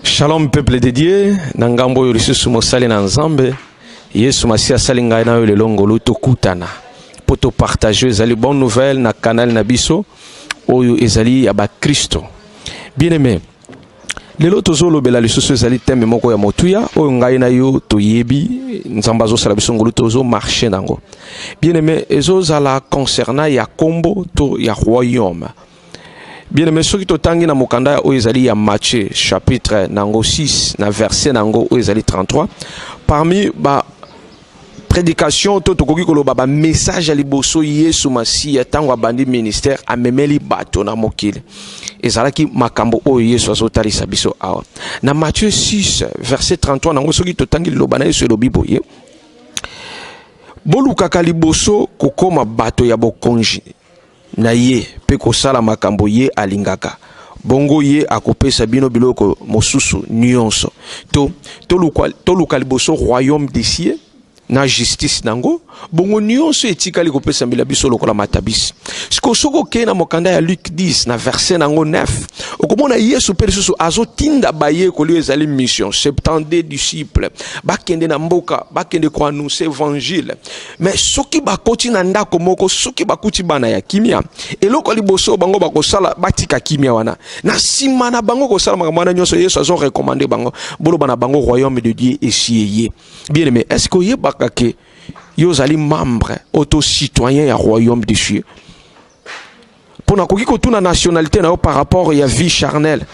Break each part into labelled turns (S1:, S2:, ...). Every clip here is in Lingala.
S1: Shalom peuple de Dieu, na ngambo oyo lisusu mosali na Nzambe, Yesu Masiya asali ngai na yo lelo ngolu tokutana mpo topartage ezali bonne nouvelle na canal na biso oyo ezali ya bakristo. Bien aimé, lelo tozolobela lisusu ezali teme moko ya motuya oyo ngai na yo toyebi Nzambe azosala biso ngolu tozomarche na yango. Bien aimé, ezozala concernant ya kombo to ya royaume. bien-aime soki totangi na mokanda ya oyo ezali ya matthieu chapitre na yango 6 na verset na yango oyo ezali 33 parmi ba prédication to tokoki koloba ba message ya liboso yesu masiya ntango abandi ministère amemeli bato na mokili ezalaki makambo oyo yesu azotalisa biso awa na matthieu 6 verset 33 na yango soki totangi liloba na yesu elobi boye bolukaka liboso kokoma bato ya bokonzi na ye mpe kosala makambo ye alingaka, bongo ye akopesa bino biloko mosusu nyonso. To, toluka, toluka liboso royaume des cieux na justice nango, bongo nyonso etikali kopesamela biso lokola matabisi. Sikoyo soki okei na mokanda ya Luke 10 na verse nango 9, okomona Yesu mpe lisusu azotinda bayekoli oyo ezali mission 72 disciples bakende na mboka, bakende koannonce evangile. me soki bakoti na ndako moko soki bakuti bana ya kimia eloko ya liboso bango bakosala batika kimia wana na nsima na bango kosala makambo wana nyonso yesu azo recommande bango boloba na bango royaume de dieu esi eye bien aime est ce que oyebaka ke yo ozali membre oto citoyen ya royaume de dieu mpo nakoki kotuna nationalité na yo par rapport ya vie charnelle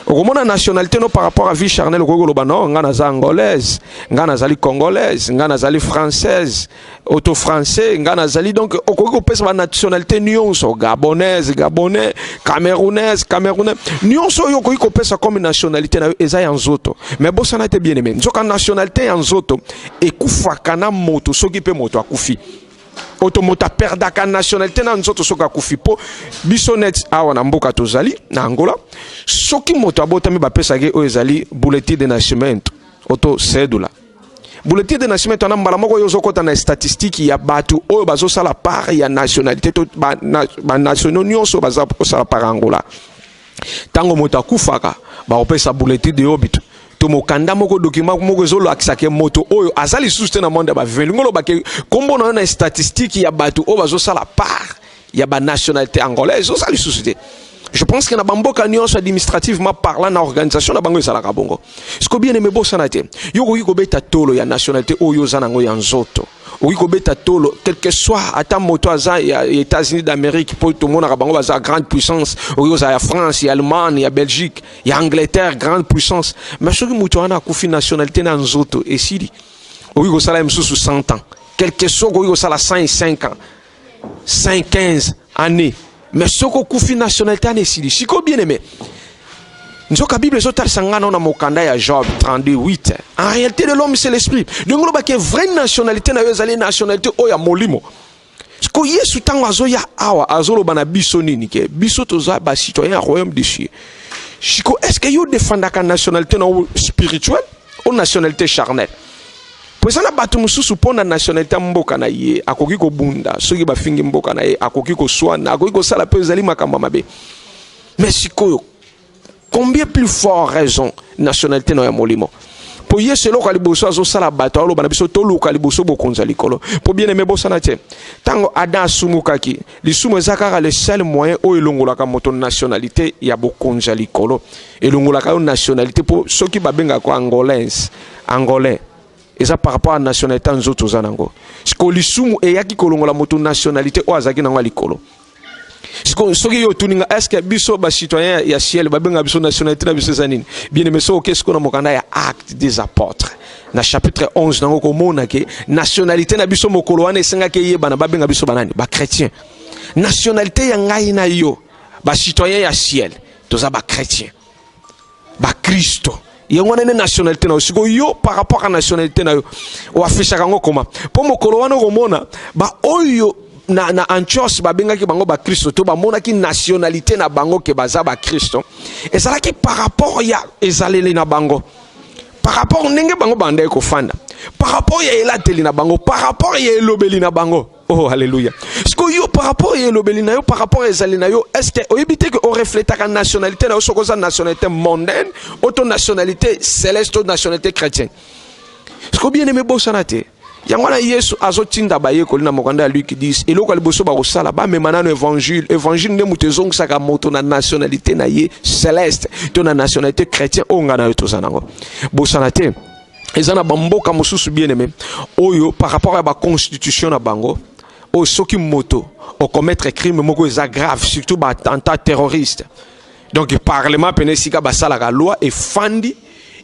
S1: okomona nationalité no par rapport à vie charnelle okoki koloba no ngai naza angolaise ngai nazali congolaise ngai nazali française auto français ngai nazali donc okoki kopesa banationalité nyonso gabonaise gabonais camerounaise camerounais nyonso oyo okoki kopesa comme nationalité na yo eza ya nzoto mais bosana te bien aimé nzoka nationalité ya nzoto ekufaka na moto soki mpe moto akufi oto moto aperdaka nationalité na nzoto soki akufi mpo biso neti awa na mboka tozali na angola soki moto abotami bapesaki oyo ezali bulletin de nascimento oto sedula bulletin de nascimento wana mbala moko yo ozokɔta na statistique ya bato oyo bazosala part ya nationalité to banationaux nyonso baza kosala part angola ntango moto akufaka bakopesa bulletin de obit to mokanda moko document moko ezolakisa ke moto oyo aza lisusu te na monde ya baviva elingi oloba ke nkombo na yo na statistique ya bato oyo bazosala part ya banationalité angolaise oza lisusu te je pense que na bamboka nyonso administrativement parlant na organisation na bango ezalaka bongo siko bien aime bosana te yo okoki kobeta tolo ya nationalité oyo oza nango ya nzoto okoki kobeta tolo quelque soit ata moto aza ya états-unis d'amérique mpo tomonaka bango baza grande puissance okoki kozala ya france ya allemagne ya belgique ya angleterre grande puissance mais soki moto wana akufi nationalité na nzoto esili okoki kosala ye mosusu 100 ans quelque soit okoki kosala 105 ans 5 15 année mais soki okufi nationalité wana esili sikoyo bien aimé nzoka bible ezotalisa ngai nao na mokanda ya job 32 8 en réalité de l'homme c'est l'esprit ndenge olobaki vraie nationalité na yo ezali nationalité oyo ya molimo siko yesu ntango azoya awa azoloba na biso nini ke biso toza bacitoyen ya royaume de cieux siko est ce que yo defandaka nationalité na yo spirituelle o nationalité charnelle Po eza na batu mususu po na nationalite ya mboka na ye akoki kobunda soki bafingi mboka na ye akoki koswana akoki kosala pe ezali makambo mabe mais sikoyo combien plus fort raison nationalité na ya molimo po yesu eloko ya liboso azosala bato aoloba na biso toluka liboso bokonzi ya likolo po bien aime bosana te ntango adam asumukaki Lisumu eza kaka le seul moyen oyo elongolaka moto nationalite ya bokonzi ya likolo, elongolaka yo nationalite mpo soki babengaka ko angolaise angolais eza par rapport ya nationalite ya nzoto oza nango. Siko lisumu eyaki kolongola moto nationalite oyo azalaki nango ya likolo. Siko soki yo otuni nga eske biso ba citoyen ya ciel babenga biso nationalite na biso eza nini? Bien aimé soki okei siko na mokanda ya acte des apotres na chapitre 11 nango komona ke nationalité na biso mokolo wana esengaki eyebana babenga biso banani bachrétien nationalité ya ngai na yo bacitoyen ya ciel toza bachrétien bakristo yango wana nde nationalité na yo siko yo par rapport ya nationalité na yo oafishaka yango koma mpo mokolo wana okomona baoyo na, na antios babengaki bango bakristo to bamonaki nationalité na bango ke baza bakristo ezalaki par rapport ya ezaleli na bango par rapport ndenge bango bandaki kofanda par rapport ya elateli na bango par rapport ya elobeli na bango oh alléluia sikoyo yo par rapport ya elobeli na yo par rapport ya ezali na yo est-ce que oyebi te ke orefletaka nationalité na yo soki oza nationalité mondaine oto nationalité céleste to nationalité chrétienne sikoyo bien aimé bosana te yango wana yesu azotinda bayekoli na mokanda ya luki 10 eloko ya liboso bakosala bamema nano evangile evangile nde moto ezongisaka moto na nationalité na ye celeste to na nationalité chrétien oyo ngai na yo toza nango bosana te eza na bamboka mosusu bien aime oyo par rapport ya baconstitution na bango oyo soki moto okomettre crime moko eza grave surtout baattentat terroriste donc parlement pene esika basalaka loi efandi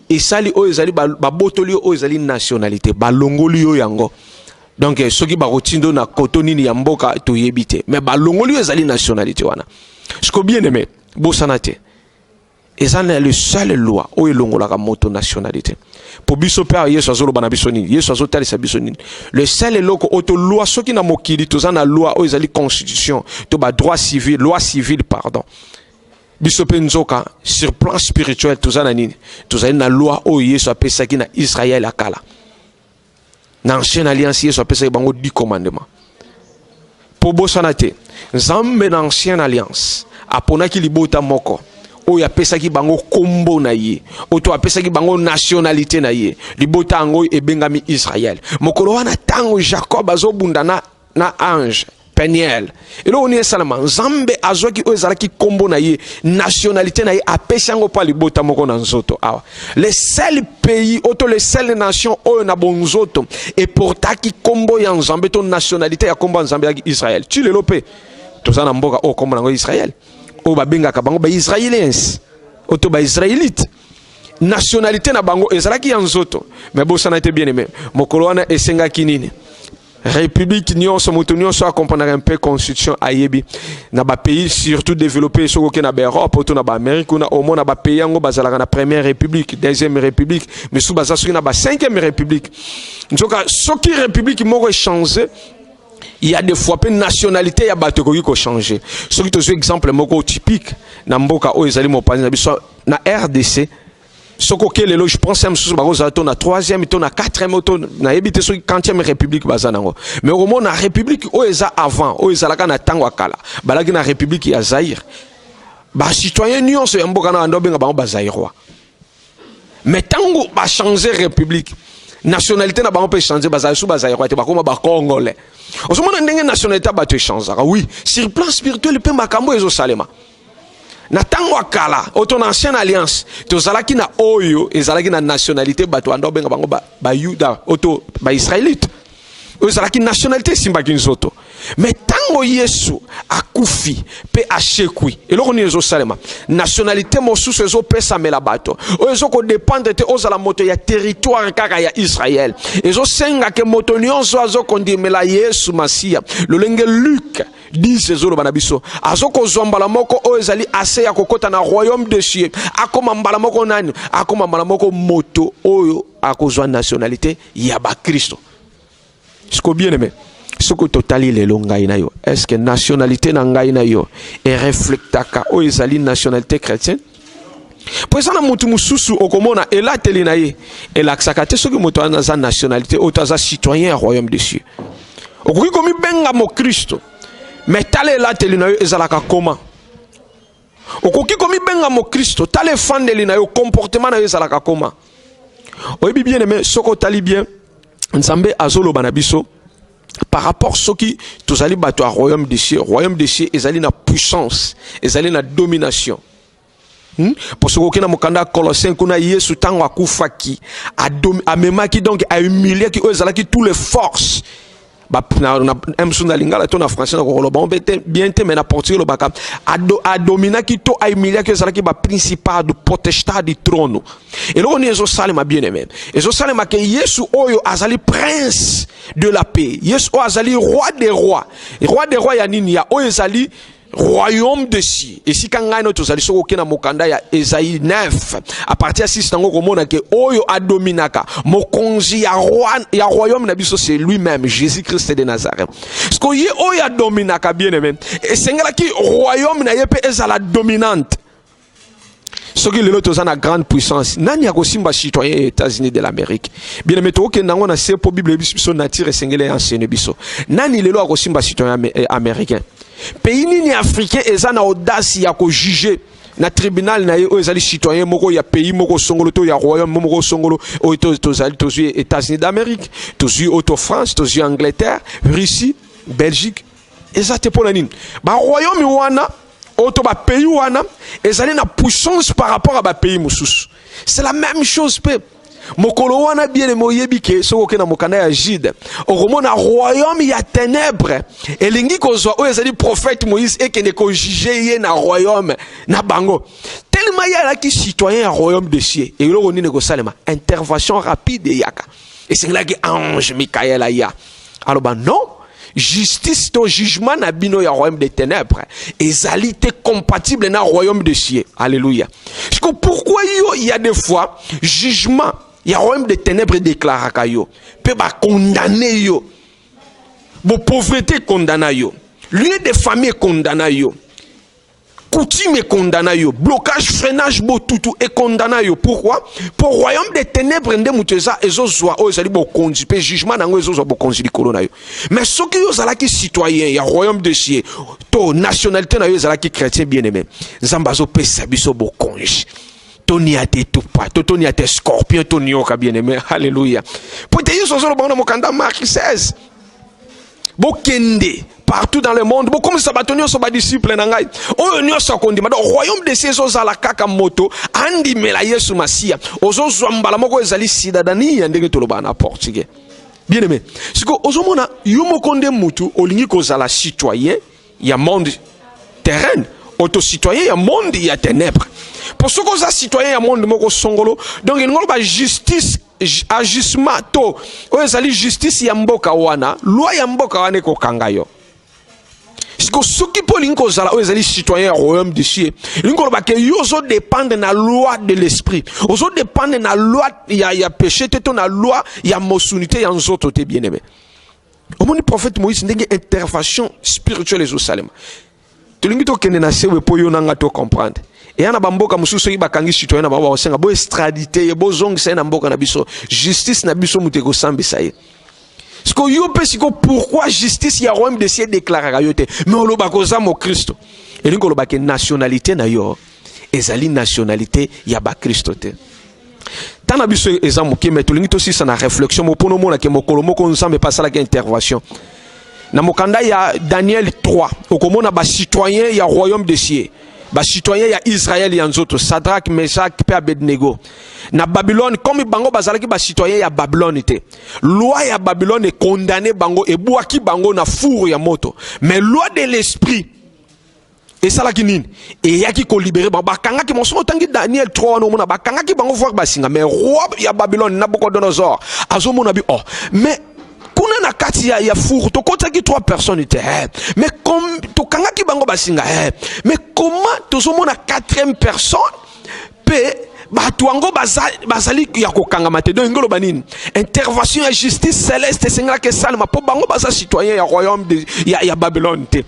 S1: esali oyo ezali babotoli yo oyo ezali nationalité balongoli yo yango donc eh, soki bakotindo na koto nini ya mboka toyebi te mais balongoli yo ezali nationalité wana siko bien aimé bosana te eza na le seul loi oyo elongolaka moto nationalité mpo biso mpe awa yesu azoloba na biso nini yesu azotalisa biso nini le sel eloko oyo tolwa soki na mokili toza na loi oyo ezali constitution to badroit civil loi civile pardon biso mpe nzoka sur plan spirituel toza na nini tozali na loi oyo yesu apesaki na israele ya kala na ancienne alliance yesu apesaki bango 10 commandement mpo bosana te nzambe na ancienne alliance aponaki libota moko oyo apesaki bango nkombo na ye oyo apesaki bango nationalité na ye libota yango ebengami israele mokolo wana ntango jacob azobunda na na ange peniel eloko nini esalama nzambe azwaki oyo ezalaki nkombo na ye nationalité na ye apesi yango mpo libota moko na nzoto awa le seul pays oyo to le seul nation oyo na bonzoto eportaki nkombo ya nzambe to nationalité ya nkombo ya nzambe yaki israel ti lelo mpe toza na mboka oyo nkombo na yango israel oyo babengaka bango baisraeliens oyo to baisraelite nationalité na bango ezalaki ya nzoto me bosana te bien aime mokolo wana esengaki nini République nionso moto nionso a comprendre un peu constitution ayebi na ba pays surtout développé soko ke na ba Europe to na ba Amérique kuna au moins na ba pays yango bazalaka na première république deuxième république mais sous baza soki na ba cinquième république nzoka soki république moko changer il y a des fois pe nationalité ya bato ekoki ko changer soki tozwi exemple moko typique na mboka oyo ezali mopanzi na biso na RDC soki oke lelo je pense ya mosusu bakozala to na 3e to na 4e to nayebi te soki 40e république baza nango mais okomona république oyo eza avant oyo ezalaka na ntango ya kala balaki na république ya zaire bacitoyen nyonso ya mboka na banda obenga bango bazairois mais ntango bachange république nationalité na bango mpe echange bazali su bazairois te bakoma bacongolais ozomona ndenge nationalité ya bato echangaka oui sur plan spirituel mpe makambo ezosalema na ntango ya kala oyo to na ancienne alliance tozalaki na oyo ezalaki na nationalité bato banda obenga bango bayuda ba oyo to baisraelite oyo ezalaki nationalité esimbaki nzoto me ntango yesu akufi mpe ashekwi eloko nini ezosalema nationalité mosusu ezopesamela bato oyo ezokodependre te ozala moto ya territoire kaka ya israel ezosengake moto nyonso azokondimela yesu masiya lolenge luke 10 ezoloba na biso azokozwa mbala moko oyo ezali ase ya kokota na royaume de cieux akoma mbala moko nani akoma mbala moko moto oyo akozwa nationalité ya bakristo siko bien aime soki totali lelo ngai na yo est ce que nationalité na ngai na yo ereflektaka oyo ezali nationalité chrétienne mpo eza na moto mosusu okomona elateli na ye elakisaka te soki moto wana aza nationalité oyo to aza citoyen ya royaume de cieux okoki komibenga mokristo me tala elateli na yo ezalaka koma okoki komibenga mokristo tala efandeli na yo comportement na yo ezalaka koma oyebi bien aime soki otali bien nzambe azoloba na biso par rapport soki tozali bato ya royaume de cieux royaume de cieux ezali na puissance ezali na domination Hmm? mpo soki okei na mokanda ya colossien kuna yesu ntango akufaki amemaki donc ahumiliaki oyo ezalaki tous les forces msu na lingala to na français na kokoloba mpe te bien te mai na portugais elobaka adominaki to ahumiliaki ezalaki baprincipado protestado trono eloko nini ezosalema bien aime ezosalema ke yesu oyo azali prince de la paix yesu oyo azali roi de roi roi de roi ya nini ya oyo ezali royaume de si esika ngai no tozali soki oke na mokanda ya ezai 9 a partir ya 6 nango okomona ke oyo adominaka mokonzi ya, roi, ya royaume na biso c'est lui-même jésus christ de nazareth siko ye oyo adominaka bien aime esengelaki royaume na ye mpe ezala dominante soki lelo toza na grande puissance nani akosimba citoyen ya états-unis de l'amérique bien aime tokokenda yango na se mpo bible eyebisi biso nature esengeli ya enseigne biso nani lelo akosimba citoyen eh, américain pays nini africain eza na audace ya kojuge na tribunal na ye oyo ezali citoyen moko ya pays moko songolo to ya royaume moko songolo oyo tozali tozwi états-unis d'amérique tozwi oyo to france tozwi angleterre russie belgique eza te mpo na nini baroyaume wana oyo to bapays wana ezali na puissance par rapport ya bapays mosusu c'est la même chose mpe mokolo wana bieleme oyebi ke soki oke na mokanda ya jude okomona royaume ya tenebre elingi kozwa oyo ezali prophète moïse ekende kojuge ye na royaume na bango telema ye alaki citoyen ya royaume de cieux eloko nini ekosalema intervention rapide eyaka esengelaki ange mikael aya aloba non justice to jugement na bino ya royaume des ténèbres ezali te compatible na royaume de cieux alléluia siko pourquoi yo il y a des fois jugement ya royaume des ténèbres edéclaraka yo mpe bakondane yo bopauvreté ekondana yo lieu de famille ekondana yo Coutume et condamna yo. Blocage, freinage, botutu et condamna yo. Pourquoi Pour royaume des ténèbres nde mutu eza ezo zwa oyo ezali bokonzi pe jugement nango ezo zwa bokonzi likolo na yo. Mais soki yo zalaki citoyen ya royaume de cieux to nationalité na yo ezalaki chrétien bien-aimé. Nzambe azo pesa biso bokonzi. Tony a te tupa, to Tony a te scorpion, Tony oka bien-aimé. Alléluia. Pote Yesu azoloba na mokanda Marc 16. bokende partout dans le monde bokomisa bato nyonso badisiple na ngai oyo nyonso akondima donc royaume de cieux ezozala kaka moto andimela yesu masiya ozozwa mbala moko ezali sidadani ya ndenge tolobaka na portugais bien aimé sikoyo ozomona yo moko nde motu olingi kozala citoyen ya monde terrain oto citoyen ya monde ya ténèbre mpo soki oza citoyen ya monde moko songolo donc elingi oloba justice ajustement to oyo ezali justice ya mboka wana loi ya mboka wana ekokanga yo siko soki mpo olingi kozala oyo ezali citoyen ya royaume de cieux elingi koloba ke yo ozodépendre na loi de l'esprit ozodépendre na loi ya, ya péché te to na loi ya mosuni te ya nzoto te bien aimé omoni prophète moïse ndenge intervention spirituelle ezosalema tolingi tokende na sewe mpo yo na ngai to comprendre eya na bamboka mosusu soki bakangi citoyen na bango bakosenga bo estradite ye bozongisa ye na mboka na biso justice na biso moto ekosambisa ye siko yo mpe siko pourquoi justice ya royaume de ciel deklaraka yo te me olobaka oza mokristo elingi koloba ke nationalité na yo ezali nationalite ya bakristo te ntango na biso eza moke mai tolingi tosisa na réflexion moko mpo omonake mokolo moko nzambe mpe asalaki intervention na mokanda ya daniel 3 okomona bacitoyen ya royaume de cieux bacitoyen ya israel ya nzoto sadrak meshak mpe abednego na babylone comme bango bazalaki bacitoyen ya babylone te loi ya babylone ekondane bango ebwaki bango na four ya moto mais loi de l'esprit esalaki nini eyaki kolibere bango bakangaki bango soki otangi daniel 3 wana omona bakangaki bango voir basinga mais roi ya babylone nabucodonosor azomona bi oh mais kuna na kati ya, ya furu tokotaki 3 personnes te eh. mais tokangaki bango basinga eh. mais comment tozomona 4e personne mpe bato yango bazali ya kokangama te donc ngoloba nini intervention ya justice celeste esengelaki esalema mpo bango baza citoyen ya royaume de, ya, ya babylone te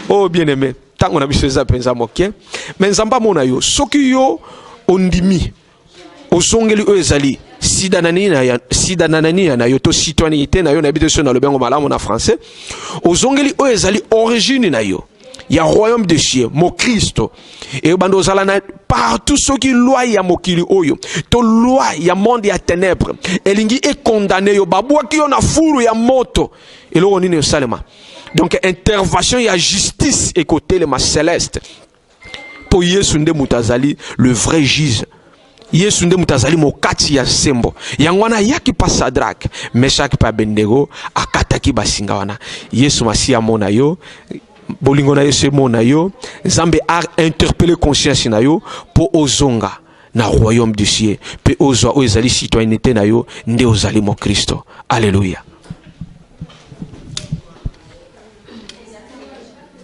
S1: oh bien aimé ntango na biso eza mpenza moke me nzambe amona yo soki yo ondimi ozongeli oyo ezali sida na nini ya sida na nani na yo to citoyenneté na yo na biso nalobi yango malamu na français ozongeli oyo ezali origine na yo ya royaume de cieux mokristo ebanda ozala na partout soki loi ya mokili oyo to loi ya monde ya ténèbre elingi ekondane yo babwaki yo na furu ya moto eloko nini esalema donc intervention ya justice ekotelema celeste mpo yesu nde moto azali le vrai juge yesu nde moto azali mokati ya sembo yango wana ayaki mpa sadrake meshake mpe abendego akataki basinga wana yesu masiya amona yo bolingo na yesu emona yo nzambe a interpele conscience na yo mpo ozonga na royaume du ciel mpe ozwa oyo ezali citoyenneté na yo nde ozali mokristo aleluya